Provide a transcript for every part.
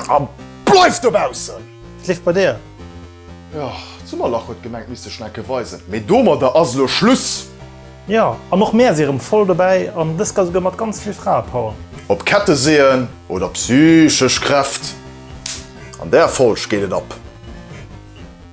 An bleif dobaussen! Et leeft bei dir! Jo, d'Summerlach huet gemengt misst sech nekke weisen, mee domadder ass elo Schluss! Jo, an och mär si rem voll dobäi, an dëst ka souguer mat ganz vill Fraepower! Op Ketteseeën oder psychesch Kräft, an där Folg geet et ab!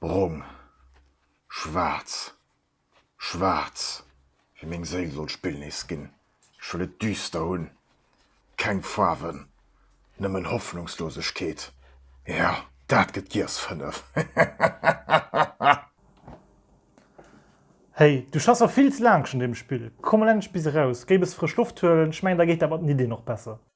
Brong. Schwaarz. Schwaarz. Wéi meng Séil soll d'Spill nees ginn. Ech wëll et düster hunn. Keng Faarwen. Nëmmen Hoffnungslosegkeet. Ja, dat gëtt giess fënnef. Hehehehehehe. Hey, du schaffs awer vill ze laang schon un deem Spill. Komm mol endlech bis eraus. Géi e bësse frësch Loft huelen. Ech mengen, da geet dat mat den Iddien och besser.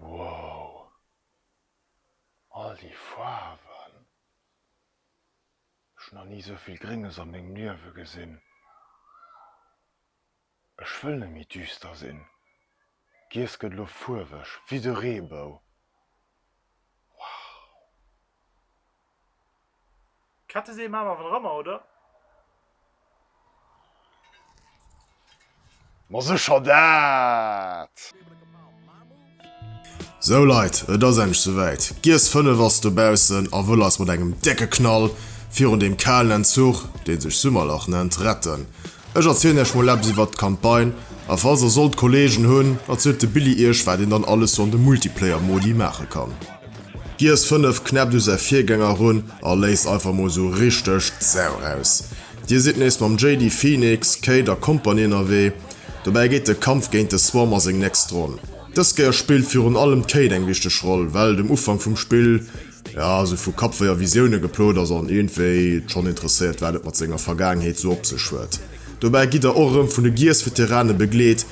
Wow! All déi Faarwen! Ech hu nach ni esou vill Grénges a mengem Liewe gesinn. Ech wëll net méi düster sinn. D'Wiss gëtt elo fuerweg, wéi de Reebou. Wow! Kette seem awer awer ëmmer, oder? Ma secher dat! Sou Leit, et ass endlech souwäit, d'Giess 5 ass dobaussen a wëll eis mat engem décke Knall virun deem kalen Entzuch, dee sech Summerlach nennt, retten. Ech erzielen iech mol eppes iwwert d'Campagne, a falls der sollt Kollegen hunn, erzielt de Billy iech wat een dann alles sou an de Multiplayer-Modi maache kann. Giess 5 knäppt u säi Virgänger erun a léisst einfach mol sou richteg d'Sau raus. Dir sidd nees mam Jayde, Phoenix, Kate a Kompanie ënnerwee. Dobäi geet de Kampf géint de Swarm a seng nächst Ronn. Dës Kéier spillt virun allem d'Kate eng wichteg Roll, well dem Ufank vum Spill jo sou vu Kappwéi a Visioune geplot ass an iergendwéi schonn interesséiert wat et mat senger Vergaangenheet sou op sech huet. Dobäi gitt der och erëm vun de Giess-Veterane begleet.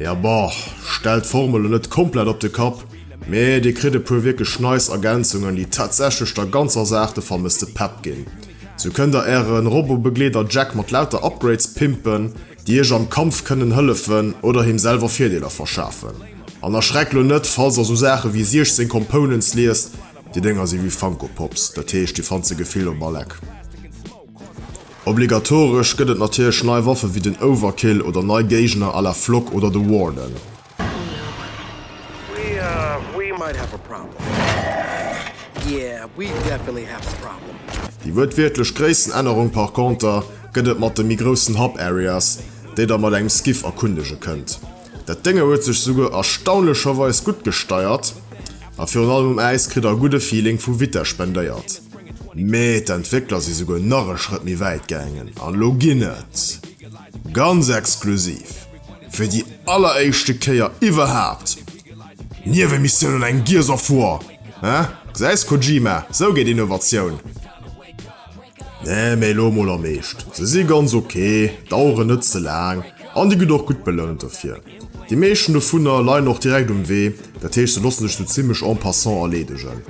Ja boah, stellt d'Formel net komplett op de Kapp, mee dir kritt e puer wierklech nice Ergänzungen, déi tatsächlech der ganzer Saach de vermësste Pepp ginn. Sou kënnt der äre Robobegleeder Jack mat lauter Upgrades pimpen, déi iech am Kampf kënnen hëllefen oder him selwer Virdeeler verschafen. An erschreckt lo net, falls der sou Saache wéi 16 Components liest, déi Dénger si wéi Funko Pops, dat heescht dir fannt se gefillt op Alleck. Obligatoresch gëtt et natierlech nei Waffe wéi den Overkill oder nei Géigner à la Flock oder de Warden. Déi wuertwiertlech Gréissenännerung par conter gëtt et mat de méi groussen Hub Areas, déi der mat engem Skiff erkundege kënnt. Dat Dénge huet sech souguer erstaunlecherweis gutt gesteiert a virun allem um Äis kritt der e gudde Feeling vu Vitess spendéiert. Mee d'Entwéckler si souguer nach e Schrëtt méi wäit gaangen an elo ginn et, ganz exklusiv, fir déi alleréischte Kéier iwwerhaapt Niewemissioun an engem Gears of War. Haa, gesäis Kojima, sou geet Innovatioun. Nee, mee elo mol am Eescht, se si ganz ok, daueren net ze laang an dir gitt och gutt belount dofir. Déi meeschten dovunner leien och direkt um Wee, dat heescht se lossen sech sou zimmlech en passant erleedegen.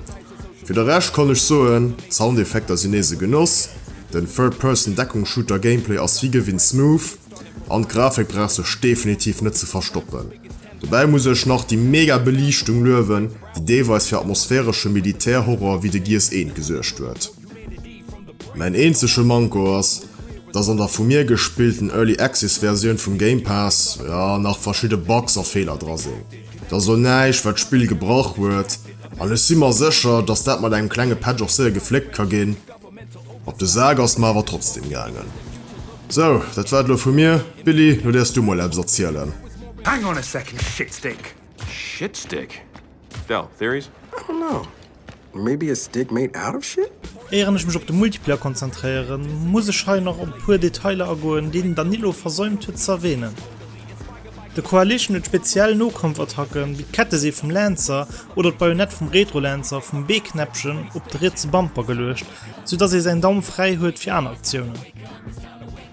Fir de Rescht kann ech soen, d'Soundeffekter sinn nees e Genoss, den Third Person Deckung Shooter Gameplay ass wéi gewinnt smooth an d'Grafik brauch sech definitiv net ze verstoppen. Dobäi muss ech nach déi mega Beliichtung luewen, déi deelweis fir atmosphäresche Militär Horror wéi de Gears I gesuergt huet. Mäin eenzege Manko ass, dass an der vu mir gespillten Early Access Versioun vum Game Pass, jo, nach verschidde Bugs a Feeler dra sinn. Dat ass elo näischt, wat d'Spill gebrach huet, an ech si mer sécher, dass dat mat engem klenge Patch och séier gefléckt ka ginn. Op de Sak ass et mer awer trotzdeem gaangen. Sou, dat war et elo vu mir. Billy, elo däers du mol eppes erzielen. Hang on a second, Shitstick! Shitstick? Dell, theories? I don't know. Maybe a stick made out of shit? Éieren ech mech op de Multiplayer konzentréieren, muss ech hei nach op e puer Detailer agoen, déi den Danilo versäumt huet ze erwähnen. De Coalition huet speziell Nokampfattacken, wéi d'Kettesee vum Lancer oder d'Bajonett vum Retrolancer vum B-Knäppchen op de rietse Bumper geluecht, sou dass ee säin Daum fräi huet fir aner Aktiounen.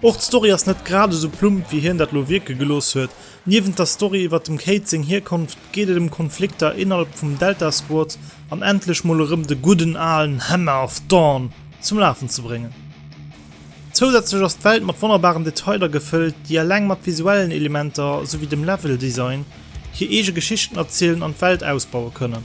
Och d'Story ass net grad esou plump, wéi hien dat lo wierke gelooss huet, Niewent der Story iwwert dem Kate seng Hierkonft geet et ëm Konflikter innerhalb vum Delta Squad an endlech mol erëm de gudden alen Hammer of Dawn zum Lafen ze bréngen. Zousätzlech ass d'Welt mat wonnerbaren Detailer gefëllt, déi eleng mat visuellen Elementer souwéi dem Level Design hir eege Geschichten erzielen an d'Welt ausbaue kënnen.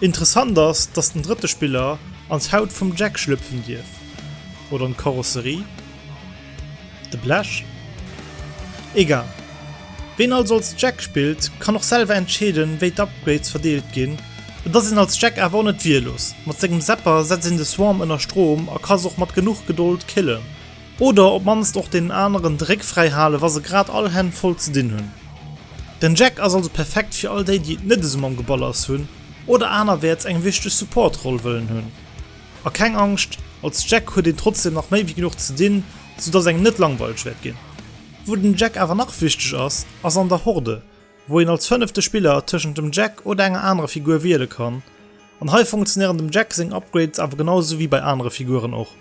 Interessant ass, dass den drëtte Spiller an d'Haut vum Jack schlëpfen dierf, oder an d'Karosserie? De Blech? Egal. Ween also als Jack spillt, kann och selwer entscheeden, wéi d'Upgrades verdeelt ginn. Et ass een als Jack awer och net wierlos, mat sengem Zapper setzt een de Swarm ënner Strom a ka se och mat genuch Gedold killen, Oder op d'mannst och deenen aneren de Réck fräi halen, wa se grad all Hänn voll ze dinn hunn. Den Jack ass also perfekt fir all déi, déi et net esou mam Geballers hunn oder anerwäerts eng wichteg Support-Roll wëllen hunn. A keng Angscht, als Jack huet een trotzdeem nach méi wéi genuch ze dinn, soudass engem net langweileg wäert ginn. Wou den Jack awer nach wichteg ass, ass an der Horde, wou een als fënnefte Spiller tëschent dem Jack oder enger anerer Figur wiele kann, an hei funktionéieren dem Jack seng Upgrades awer genau esou wéi bei anere Figuren och.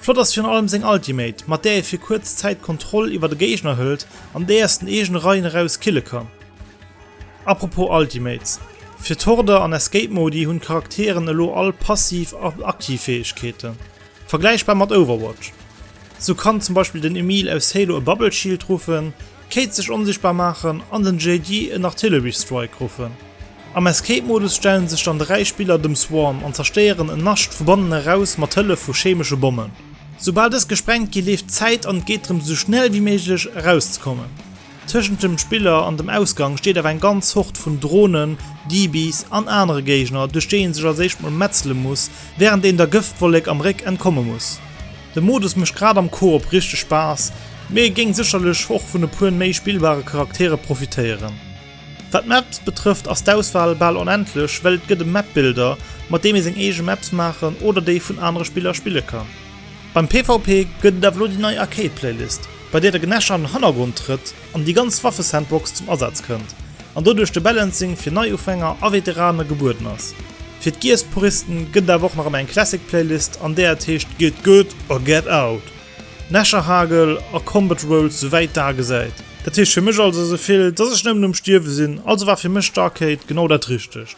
Flott ass virun allem seng Ultimate, mat där ee fir kuerz Zäit d'Kontroll iwwert e Géigner hëlt an déi aus den eegene Reien eraus kille kann. Apropos Ultimates, fir d'Horde an Escape Modi hunn d'Charakteren elo all passiv a aktiv Fäegkeeten. Vergläichbar mat Overwatch. Sou kann zum Beispill den Emil aus Halo e Bubble Shield ruffen, d'Cade sech onsichtbar maachen an den JD en Artillery Strike ruffen. Am Escape Modus stellen sech dann 3 Spiller dem Swarm an zerstéieren en Nascht vu bannen eraus mat Hëllef vu chemesche Bommen. Soubal dës gesprengt gi leeft d'Zäit an et geet drëm sou schnell wéi méiglech erauszekommen. Tëschent dem Spiller an dem Ausgang steet awer eng ganz Hord vun Dronen, Dibis an anere Géigner, duerch déi een sech als éischt mol metzele muss, wärend een der Gëftwollek am Réck entkomme muss. De Modus mécht grad am Koop richteg Spaass, mee géing sécherlech och vun e puer méi spillbare Charaktere profitéieren. Wat d'Maps betrëfft ass d'Auswahl bal onendlech, well et gëtt e Map-Builder, mat deem ee seng eege Maps maachen oder déi vun anere Spiller spille kann. Beim PvP gëtt et awer elo déi nei Arcade Playlist, bei där de Gnasher an den Hannergrond trëtt an déi ganz Waffesandbox zum Asaz kënnt, an doduerch de Balancing fir Neiufänger a Veterane gebueden ass. Fir d'Gears Puristen gëtt et awer och nach ëmmer eng Classic Playlist, an där et heescht Get Good or Get Out, Gnasherhagel a Combat Rolls sou wäit d'A gesäit. Dat heescht fir mech also sou vill, dass ech nëmmen um Stierwe sinn, also war fir mech d'Arcade genau dat Richtegt.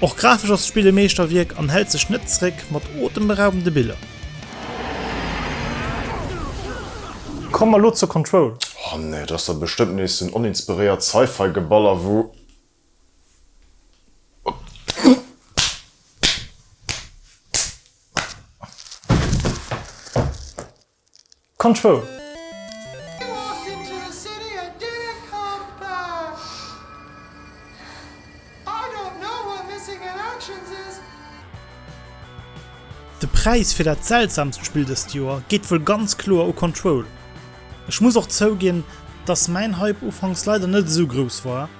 Och grafesch ass d'Spill e Meeschterwierk an hält sech net zeréck mat otemberaubende Biller. Komme mer lo zur Control. Oh nee, et ass da bestëmmt nees sou en oninspiréiert Sci-Fi Geballer wou. Control. De Präis fir dat seltsamst Spill dëst Joer geet wuel ganz kloer u Control. Ech muss och zouginn, dass mäin Hype ufanks leider net esou grouss war.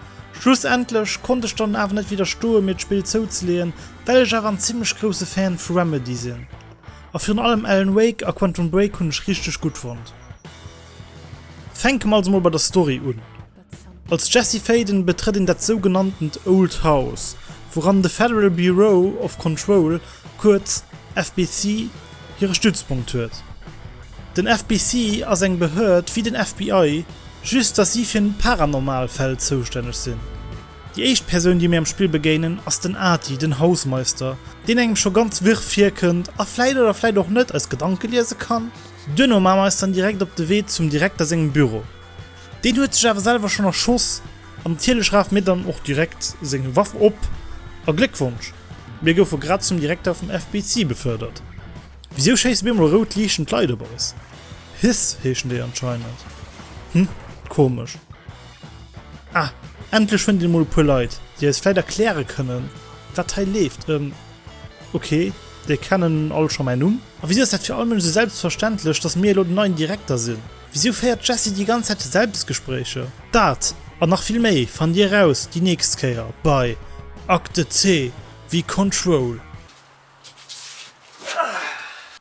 Schlussendlech konnt ech dann awer net widderstoen, mir d'Spill zouzeleeën, well ech awer en zimmlech grousse Fan vu Remedy sinn. A virun allem Alan Wake a Quantum Break hunn ech richteg gutt fonnt. Fänke mer also mol bei der Story un. Als Jesse Faden betrëtt een dat sougenanntent Old House, wouran de Federal Bureau of Control, kuerz FBC, hire Stützpunkt huet. Den FBC ass eng Behörd wéi den FBI, just datt si fir Paranormal Fäll zoustänneg sinn. Déi éischt Persoun déi mir am Spill begéinen ass den Ati, den Hausmeister, deen engem scho ganz wirr virkënnt a vläit oder vläit och net eis Gedanke liese kann. Duerno maache mer eis dann direkt op de Wee zum Direkter sengem Büro. Deen huet sech awer selwer schonn erschoss an natierlech rafe mir dann och direkt seng Waff op a Gléckwonsch, mir goufe grad zum Direkter vum FBC befördert. Wisou schéisse op eemol rout liichtend Leit op eis? Hiss heeschen déi anscheinend. Hm, komesch. Ah, endlech fënnt een emol e puer Leit, déi eis vläit erkläre kënnen, wat hei leeft. Ehm, ok, déi kennen all scho mäin Numm. A wisou ass dat fir all Mënsch esou selbstverständlech, dass mir elo den neien Direkter sinn? Wisou féiert d'Jessie déi ganz Zäit Selbstgespréicher? Dat an nach vill méi fannt dir eraus déi nächst Kéier bei Akte C wéi Control.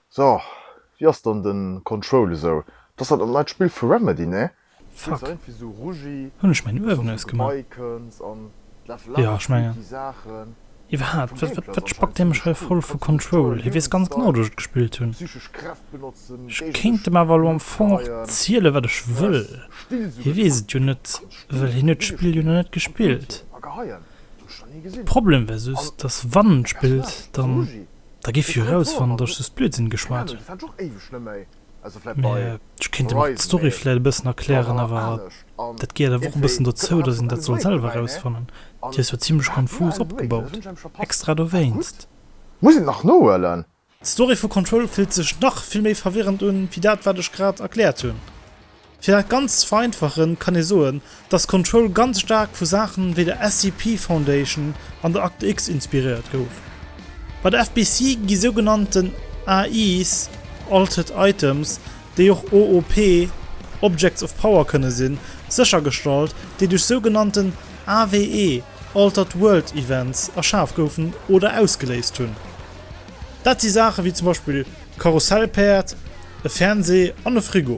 So, wéi ass dann den Control esou? T'ass dat dat neit Spill vu Remedy, nee? Fuck, hunn ech mäin Uewen ausgemaach? Jo, ech mengen. Iwwerhaapt, wat spackt hie mech hei voll vu Control? Hie weess ganz genau, datt ech et gespillt hunn. Ech kéint em awer elo am Fong och zielen, wat ech wëll. Hie weess et jo net, well hien huet d'Spill jo nach net gespillt. De Problem wär just, datt wann en spillt, dann, da géif hie erausfannen, datt ech just Blödsinn geschwat hunn. Ech kéint dem och d'Story vläit e bëssen erklären, awer dat gehéiert awer och e bëssen dozou, datt een dat soll selwer erausfannen. Déi ass jo zimlech konfus opgebaut, extra dowéinst. Muss een et nach nohuelen? D'Story vu Control fillt sech nach vill méi verwirrend un, wéi dat wat ech grad erkläert hunn. Fir dat Ganzt ze vereinfachen, kann ee soen, dass Control ganz staark vu Saache wéi der SCP Foundation an der Akte X inspiréiert gouf. Bei der FBC gi sougenannten AIs, Altered Items, déi och OOP, Objects of Power, kënne sinn, séchergestallt, déi duerch sougenannten AWE, Altered World Events, erschaf goufen oder ausgeléist hunn. Dat si Saache wéi zum Beispill Karussellpäerd, e Fernsee an e Frigo.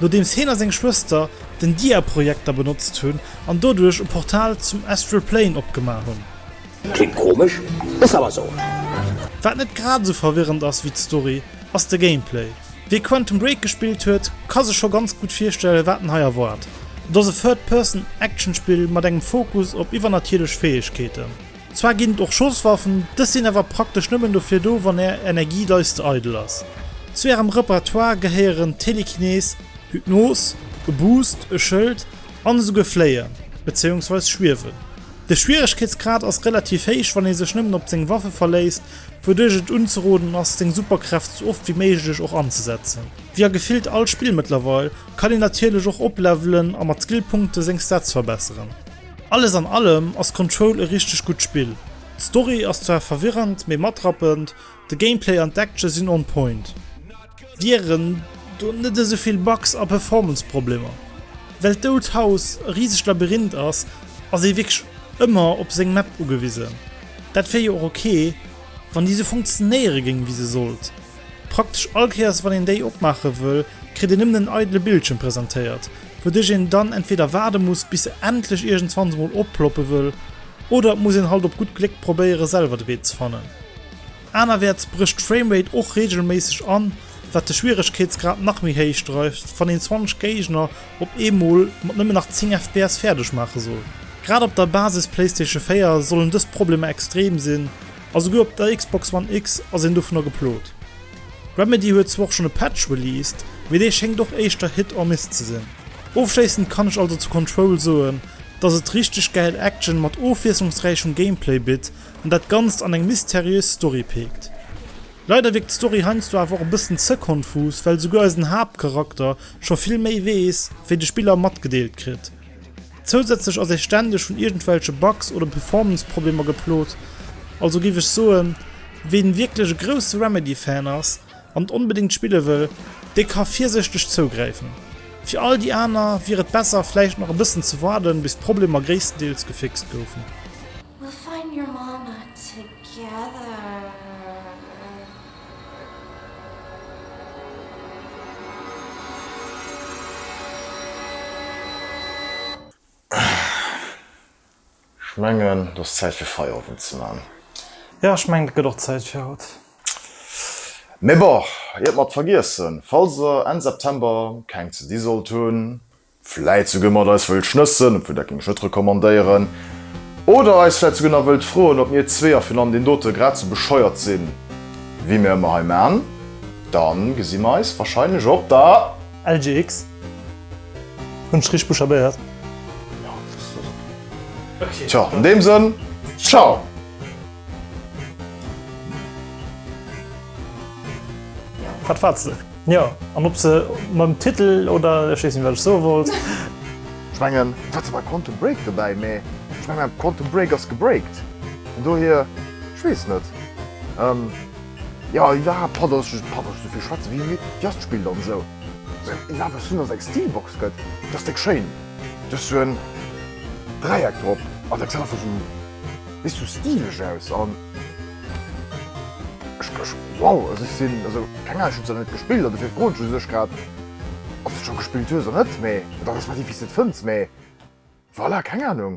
Nodeems heen a seng Schwëster den Diaprojekter benotzt hunn an doduerch e Portal zum Astral Plane opgemaach hunn. Klingt komesch, ass awer sou. Wat net grad esou verwirrend ass wéi d'Story, ass de Gameplay. Wee Quantum Break gespillt huet, ka sech scho ganz gutt virstellen, wat en hei erwaart. Et ass e Third-Person-Action-Spill mat engem Fokus op iwwernatierlech Fäegkeeten. Zwar ginn et och Schosswaffen, dës sinn awer praktesch nëmmen dofir do, wann är Energieleiste eidel ass. Zu ärem Repertoire gehéieren Telekinese, Hypnos, e Boost, e Schëld an esouguer Fléien, bezéiungsweis Schwiewen. De Schwieregkeetsgrad ass relativ héich, wann ee sech nëmmen op seng Waffe verléisst, wouduerch et unzeroden ass, seng Superkräft sou oft wéi méiglech och anzesetzen. Wéi a gefillt all Spill mëttlerweil, kann een natierlech och oplevelen a mat Skillpunkte seng Stats verbesseren. Alles an allem ass Control e richteg gutt Spill. D'Story ass zwar verwirrend, mee matrappend, de Gameplay an d'Action sinn on point. Wieren do net esou vill Bugs a Performance-Problemer? Well d'Old House e risegt Labyrinth ass, ass ee wierklech ëmmer op seng Map ugewisen. Dat wier jo och ok, wann déi esou funktionéiere géing, wéi se sollt. Praktesch all Kéiers wann een déi opmaache wëll, kritt een nëmmen en eidele Bildschëm presentéiert, wouduerch een dann entweder waarde muss bis se endlech iergendswanns emol opploppe wëll, oder et muss een halt op gutt Gléck probéiere selwer de Wee ze fannen. Anerwäerts brécht d'Framerate och reegelméisseg an, wat de Schwieregkeetsgrad nach méi héich dreift, wann een 20 Géigner op eemol mat nëmmen nach 10 fps fäerdeg maache soll. Grad op der Basis-Playstation 4 sollen dës Problemer extrem sinn. A souguer op der Xbox One X ass een dovunner geplot. Remedy huet zwar och schonn e Patch released, mee dee schéngt och éischter Hit or Miss ze sinn. Ofschléissend kann ech also zu Control soen, dass et richteg gäil Action mat ofwiesslungsräichem Gameplay bitt an dat Ganzt an eng mysteriös Story peekt. Leider wierkt d'Story heiansdo awer och e bëssen ze konfus, well souguer eisen Haaptcharakter scho vill méi weess, wéi de Spiller matgedeelt kritt. Zousätzlech ass ee ständeg vun iergendwelche Bugs oder Performance-Problemer geplot, also géif ech soen, ween wierklech e grousse Remedy-Fan ass an et onbedéngt spille wëll, dee ka virséchteg zougräifen. Fir all déi aner wier et besser vläicht nach e bëssen ze waarden, bis d'Problemer gréisstendeels gefixt goufen. Ech mengen et ass Zäit fir Feierowend ze man. Jo, ech mengen et gëtt och Zäit fir haut. Mee bon, iert mer et vergiessen, falls der Enn September keng ze di sollt hunn, Vläit souguer mat eis wëllt schnëssen, obwuel dat géing ech net recommandéieren. Oder eis vläit souguer nach wëllt froen, ob mir zwee a virun allem deen dote grad sou bescheuert sinn, wéi mir ëmmer hei man. Da gesi mir eis warscheinlech op der. LGX. Hunn ech richteg buchstabéiert? Jo, dës ass ok. Tjo, an deem Sënn, Ciao! Wat faarts de? Jo, an ob se mam Titel oder, ech weess net wat ech soe wollt. Ech mengen, et war zwar Quantum Break dobäi, mee ech menge mäin Quantum Break ass gebreakt, vun dohier, ech weess net. Jo, iwwerhaapt brauch ech net esouvill schwätzen, wéi midd Dir ass. D'Spill dann esou iwwerhaapt eppes hunn, ass eng Steelbox gëtt, déi ass déck schéin, do ass esou en Dräieck drop an dat gesäit einfach esou, weess du, stileg aus. Wow also ech sinn also keng Ahnung ech hunn se net gespillt an dofir froen ech u sech grad ob s de scho gespillt hues oder net mee oder respektiv wéi s de et fënns mee voilà keng Ahnung.